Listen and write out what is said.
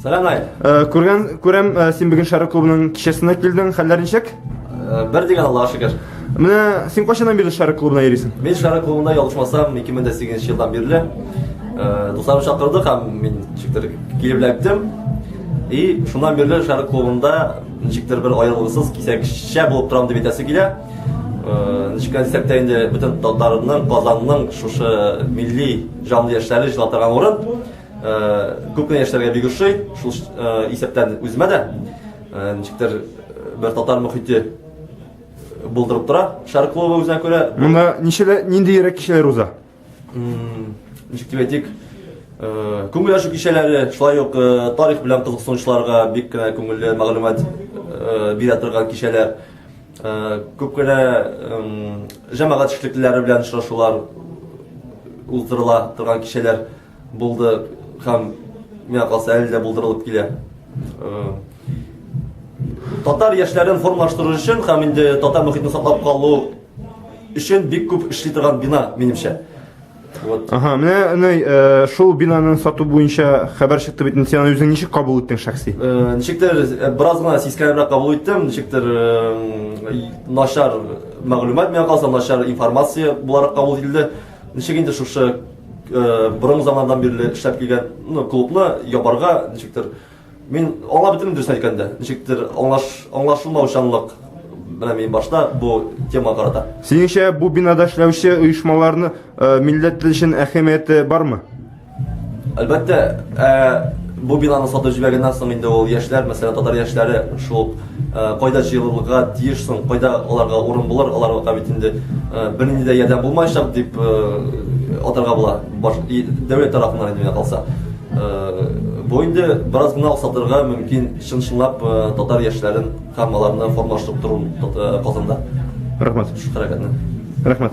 Сәлам ай. Э, күргән күрәм, э, син бүген Шәрык клубының кичәсенә килдең. Хәлләр ничек? Э, бер дигән Аллаһ шөкер. Менә син кайчаннан бирле Шәрык клубына йөрисең? Мин Шәрык клубында ялгышмасам 2008 елдан бирле. Дусларым чакырды һәм мин чиктер килеп ләптем. И шуннан бирле Шәрык клубында ничектер бер аерылгысыз кисәкчә булып торам дип әйтәсе килә. Ничек дисәк тә инде бөтен татарның, Казанның шушы милли җанлы яшьләре җыла торган урын. Күп кенә яшьләргә бик ошый, шул исәптән үземә дә ничектер бер татар мөхите булдырып тора. Шар клубы үзенә күрә. Монда ничәлә нинди йөрәк кичәләр уза? Ничек дип әйтик, күңел ачу кичәләре, шулай ук тарих белән кызыксынучыларга бик кенә күңелле мәгълүмат бирә торган кичәләр. Күп кенә җәмәгать эшлеклеләре белән очрашулар уздырыла торган кичәләр. Булды һәм миңа калса әле дә булдырылып килә. Татар яшьләрен формалаштыру өчен һәм инде татар мөхитен саклап калу өчен бик күп эшли торган бина, минемчә. Вот. Ага, менә әнәй э, шул бинаны сату буенча хәбәр чыкты бит. Син аны үзең ничек кабул иттең шәхси? Э, ничектер э, бераз гына сискәнебрәк кабул иттем, ничектер начар мәгълүмат миңа калса, начар информация буларак кабул ителде. Ничек инде шушы Борынгы заманнан бирле эшләп килгән ну, клубны ябарга ничектер мин аңлап бетермим дөресен әйткәндә. Ничектер аңлаш аңлашылмаучанлык менә мин башта бу тема карата. Синеңчә бу бинада эшләүче оешмаларны э, милләт өчен әһәмияте бармы? Әлбәттә, э, бу бинаны сатып җибәргәннән соң инде ул яшьләр, мәсәлән, татар яшьләре шул Кайда җыелырга тиеш соң, кайда аларга урын булыр, аларга бит инде бернинди дә ярдәм булмаячак, дип атарга була, дәүләт тарафыннан инде миңа калса. Бу инде бераз гына охсатырга мөмкин чын-чынлап татар яшьләрен һәм аларны формалаштырып тору Казанда. Рәхмәт. Шушы хәрәкәтне. Рәхмәт.